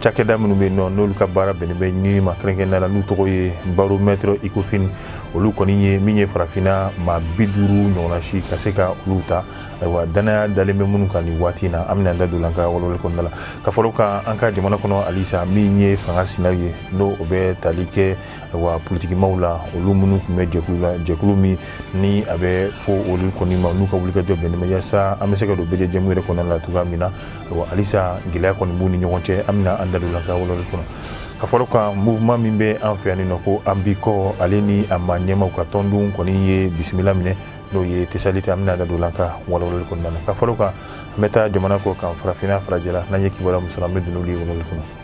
cakɛda minnu bɛ yen nɔ n'olu ka baara bɛnnen bɛ ɲinini ma kɛrɛnkɛrɛnnenya la n'u tɔgɔ ye baromètre Ecofin olu kɔni ye min ye farafinna maa bi duuru ɲɔgɔnna si ka se ka olu ta ayiwa dannaya dalen bɛ minnu kan nin waati in na an bɛna an da don an ka walawali kɔnɔna la ka fɔlɔ kan an ka jamana kɔnɔ halisa min ye fanga sina ye n'o o bɛ tali kɛ wa politikimaw la olu minnu tun bɛ jɛkulu la jɛkulu min ni a bɛ fɔ olu kɔni ma n'u ka wulikajɔ bɛnnen bɛ yaasa an bɛ se ka don bɛɛjɛ jɛmu yɛrɛ kɔnɔ la cogoya min na halisa gɛlɛya kɔni b'u ni ɲɔgɔn cɛ an bɛna an da don an ka walawali kɔnɔ ka fɔlɔ kan mouvement min bɛ an fɛ yanni nɔ ko an b'i kɔ ale ni a maa ɲɛmaaw ka tɔndon kɔni ye bisimila minɛ n'o ye tesalite an bɛna da don an ka walawali kɔnɔna la ka fɔlɔ kan an bɛ taa jamana kɔkan farafinna farajɛla n'an ye kibaruya min sɔrɔ an bɛ don n'olu ye walawali kɔnɔ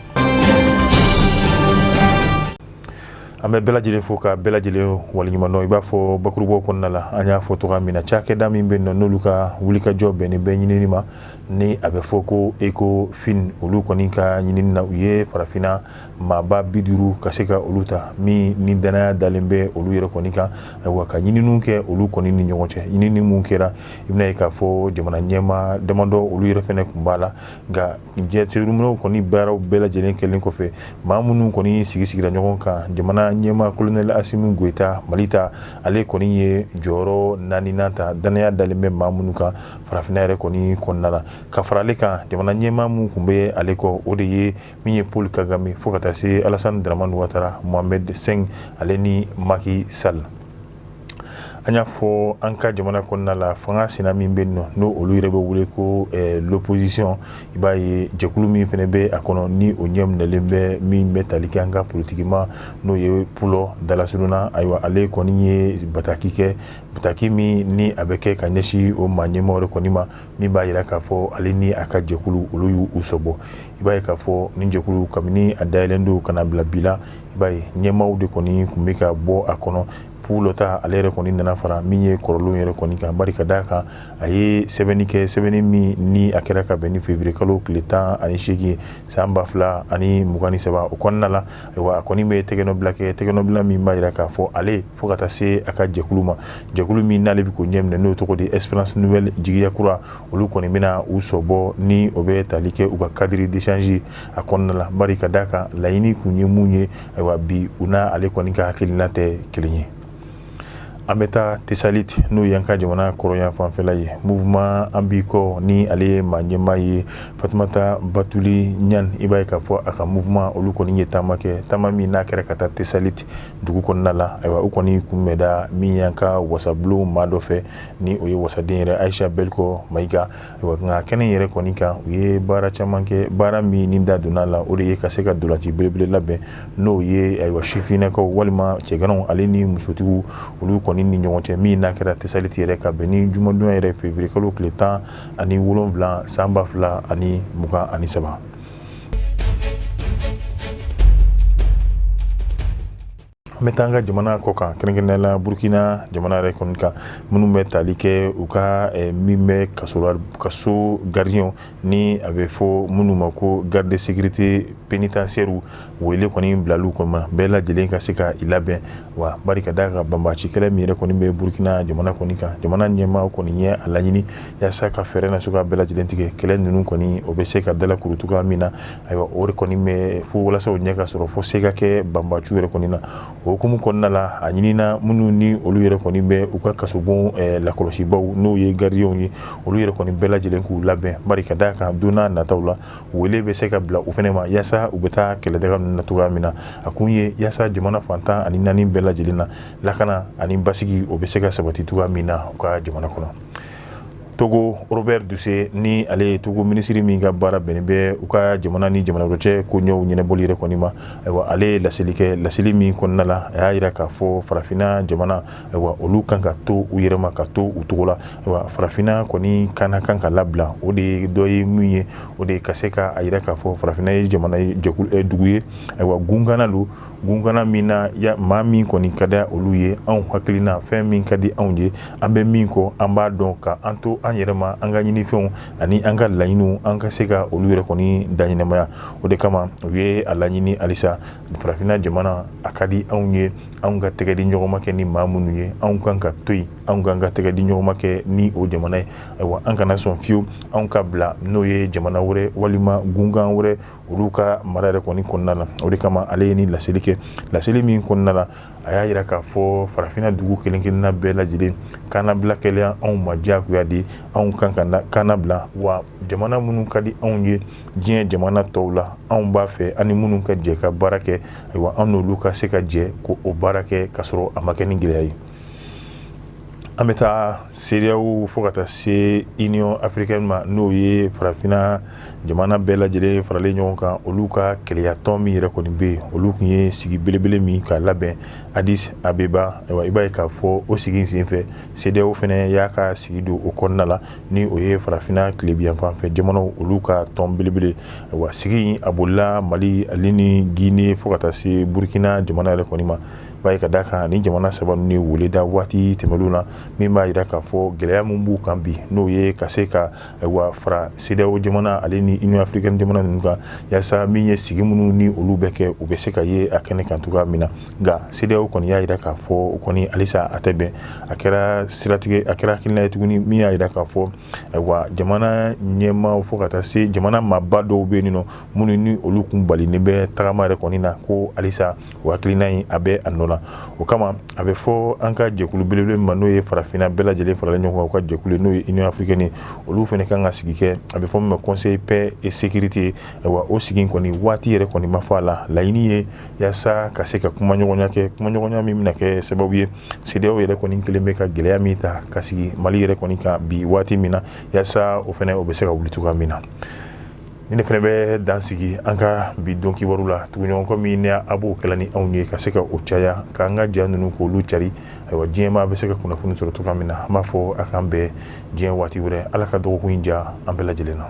an bɛ bɛɛ lajɛlen fo ka bɛɛ lajɛlen waleɲumandɔn i b'a fɔ bakurubaw kɔnɔna la an y'a fɔ cogoya min na cakɛda min bɛ nɔ n'olu ka wulikajɔ bɛnnen bɛ ɲinini ma ni a bɛ fɔ ko Ecofin olu kɔni ka ɲinini na u ye farafinna maaba bi duuru ka se ka olu ta min ni danaya dalen bɛ olu yɛrɛ kɔni kan ayiwa ka ɲininiw kɛ olu kɔni ni ɲɔgɔn cɛ ɲinini minnu kɛra i bɛn'a ye k'a fɔ jamana ɲɛmaa damadɔ olu yɛrɛ fɛnɛ kun b'a la nka jateminɛw kɔni baaraw bɛɛ lajɛlen kɛlen kɔfɛ maa minnu kɔni sigi sigira ɲɔgɔn kan jamana ɲɛmaa colonel Assimi Goïta Mali ta ale kɔni ye jɔyɔrɔ naaninan ta dannaya dalen bɛ maa minnu kan farafinna yɛrɛ kɔni kɔnɔna la ka fara ale kan jamana ɲɛmaa minnu kun bɛ ale kɔ o de ye min ye Paul Kagame fo ka taa se Alassane Dramane Ouattara Mohamed cinq ale ni Macky Sall an y'a fɔ an ka jamana kɔnɔna la fanga sina min bɛ nɔ n'o olu yɛrɛ bɛ wele ko l'opposition i b'a ye jɛkulu min fana bɛ a kɔnɔ ni o ɲɛ minɛlen bɛ min bɛ tali kɛ an ka politikimaa n'o ye Pulo Dalasuruna ayiwa ale kɔni ye bataki kɛ bataki min ni a bɛ kɛ ka ɲɛsin o maa ɲɛmaa de kɔni ma min b'a jira k'a fɔ ale ni a ka jɛkulu olu y'u sen bɔ i b'a ye k'a fɔ nin jɛkulu kabini a dayɛlɛn don ka na bila bi la i b'a ye ɲɛmaaw de kɔni tun bɛ ka bɔ a kɔnɔ Pulo ta ale yɛrɛ kɔni nana fara min ye kɔrɔlenw yɛrɛ kɔni kan bari ka d'a kan a ye sɛbɛnni kɛ sɛbɛnni min ni a kɛra ka bɛn ni février kalo tile tan ani seegin san ba fila ani mugan ni saba o kɔnɔna la ayiwa a kɔni bɛ tɛgɛnɔbila kɛ tɛgɛnɔbila min b'a jira k'a fɔ ale fo ka taa se a ka jɛkulu ma jɛkulu min n'ale bɛ k'o ɲɛ minɛ n'o tɔgɔ de Espérance Nouvelle jigiya kura olu kɔni bɛna u sen bɔ ni o bɛ tali kɛ u ka cadre d'échange a kɔnɔna la bari ka d'a kan laɲini kun ye mun ye ayiwa bi u n'a ale kɔni ka hakilina tɛ kelen ye an bɛ taa tesalite n'o y'an ka jamana kɔrɔnyan fanfɛla ye mouvement an b'i kɔ ni ale ye maa ɲɛmaa ye fatumata batuli ɲan i b'a ye k'a fɔ a ka mouvement olu kɔni ye taama kɛ taama min n'a kɛra ka taa tesalite dugu kɔnɔna la ayiwa u kɔni kunbɛnna min y'an ka wasabulon maa dɔ fɛ ni o ye wasaden yɛrɛ ayisa bɛliko mayiga nka kɛnɛ yɛrɛ kɔni kan u ye baara caman kɛ baara min ni da donna la o de ye ka se ka ntolaci belebele labɛn n'o ye ayiwa sifinnakaw walima cɛganaw ale ni musotigiw olu kɔni ni ɲɔgɔn cɛ min n'a kɛra tesaliti yɛrɛ ka bɛn ni jumadon yɛrɛ février kalo tile tan ani wolonwula san ba fila ani mugan ani saba An bɛ taa an ka jamana kɔ kan kɛrɛnkɛrɛnnenya la Burukina jamana yɛrɛ kɔni kan minnu bɛ tali kɛ u ka min bɛ kaso la kaso gardien ni a bɛ fɔ minnu ma ko garde de sécurité pénitentiaire wele kɔni bilal'u kɔnɔ bɛɛ lajɛlen ka se ka i labɛn wa bari ka d'a kan banbaci kɛlɛ min yɛrɛ kɔni bɛ burukina jamana kɔni kan jamana ɲɛmaa kɔni ye a laɲini yasa ka fɛɛrɛ na sugu bɛɛ lajɛlen tigɛ kɛlɛ ninnu kɔni o bɛ se ka dalakuru cogoya min na ayiwa o de kɔni bɛ fo walasa o ɲɛ ka sɔrɔ fo se ka kɛ banbaci yɛrɛ kɔni na o hukumu kɔnɔna la a ɲinina minnu ni olu yɛrɛ kɔni bɛ u ka kasobon eh, lakɔlɔsibaw n'o ye garidiw ye olu yɛrɛ kɔni bɛɛ lajɛlen k'u labɛn bari ka d'a kan donna nataw la wele bɛ se ka bila u fɛnɛ ma yasa u bɛ taa kɛlɛdaga ninnu na cogoya min na a kun ye yasa jamana fan tan ani naani bɛɛ lajɛlen na lakana ani basigi o bɛ se ka sabati cogoya min na u ka jamana kɔnɔ togo robert dussey ni ale ye togo minisiri min ka baara bɛnnen bɛ u ka jamana ni jamana wɛrɛ cɛ koɲɛw ɲɛnɛbɔli yɛrɛ kɔni ma ayiwa ale ye laseli kɛ laseli min kɔnɔna la a y'a jira k'a fɔ farafinna jamana ayiwa olu kan ka to u yɛrɛ ma ka to u cogo la ayiwa farafinna kɔni kan kan ka labila o de ye dɔ ye min ye o de ka se k'a yira k'a fɔ farafinna ye jamana dugu ye ayiwa gunkan don gunkan min na maa min kɔni ka di olu ye anw hakilina fɛn min ka di anw ye an bɛ min kɔ an b'a dɔn ka an to an yɛrɛ ma an ka ɲinifɛnw ani an ka laɲiniw an ka se ka olu yɛrɛ kɔni daɲɛnamaya o de kama u ye a laɲini halisa farafinna jamana a ka di anw ye anw ka tɛgɛdiɲɔgɔnma kɛ ni maa minnu ye anw kan ka to yen anw kan ka tɛgɛdiɲɔgɔnma kɛ ni o jamana ye ayiwa an kana sɔn fiyewu anw ka bila n'o ye jamana wɛrɛ walima gunkan wɛrɛ olu ka mara yɛrɛ kɔni kɔnɔna la o de kama ale ye ni laseli kɛ laseli min kɔnɔna la a y'a jira k'a fɔ farafinna dugu kelenkelenna bɛɛ lajɛlen kana bila kɛlɛya anw ma diyagoya de anw kan k'an labila wa jamana minnu ka di anw ye diɲɛ jamana tɔw la anw b'a fɛ ani minnu ka jɛ ka baara kɛ ayiwa an n'olu ka se ka jɛ ka o baara kɛ ka sɔrɔ a ma kɛ ni gɛlɛya ye an bɛ taa cedeao fo ka taa se union africaine ma n'o ye farafina jamana bɛɛ lajɛlen faralen ɲɔgɔn kan olu ka kelenyatɔn min yɛrɛ kɔni bɛ yen olu tun ye sigi belebele min ka labɛn adis abeba ayiwa i b'a ye k'a fɔ o sigi senfɛ cedeao fana y'a ka sigi don o kɔnɔna la ni o ye farafinna tilebinyanfan fɛ jamanaw olu ka tɔn belebele ayiwa sigi in a bolila mali ale ni gine fo ka taa se burukina jamana yɛrɛ kɔni maaba ye ka da a kan ni jamana saba ninnu ye wele da waati tɛmɛnenw na min b'a jira k'a fɔ gɛlɛya min b'u kan bi n'o ye ka se ka ayiwa fara CEDEAO jamana ale ni Union africaine jamana ninnu kan yaasa min ye sigi minnu ni olu bɛ kɛ u bɛ se ka ye a kɛnɛ kan cogoya min na nka CEDEAO kɔni y'a jira k'a fɔ o kɔni halisa a tɛ bɛn a kɛra siratigɛ a kɛra hakilina ye tuguni min y'a jira k'a fɔ ayiwa jamana ɲɛmaaw fo ka taa se jamana maaba dɔw bɛ yen nɔ minnu ni olu kun balinen bɛ tagama yɛrɛ kɔni na ko halisa o hakilina in a bɛ a nɔ la o kama a bɛ fɔ an ka jɛkulu belebele min ma n'o ye farafinna bɛɛ lajɛlen faralen ɲɔgɔn kan u ka jɛkulu n'o ye Union africaine ye olu fana kan ka sigi kɛ a bɛ fɔ min ma conseil paix et sécurité ayiwa o sigi in kɔni waati yɛrɛ kɔni ma fɔ a la laɲini ye yaasa ka se ka kumaɲɔgɔnya kɛ kumaɲɔgɔnya min bɛna kɛ sababu ye CEDEAO yɛrɛ kɔni kelen bɛ ka gɛlɛya min ta ka sigi mali yɛrɛ kɔni kan bi waati min na yaasa o fana o bɛ se ka wuli cogoya min na ni ne fana bɛ dan sigi an ka bi don kibaru la tuguɲɔgɔn min ni a b'o kɛla ni anw ye ka se ka o caya k'an ka ja ninnu k'olu cari ayiwa diɲɛmaa bɛ se ka kunnafoni sɔrɔ cogoya min na an b'a fɔ a k'an bɛn diɲɛ waati wɛrɛ ala ka dɔgɔkun in diya an bɛɛ lajɛlen na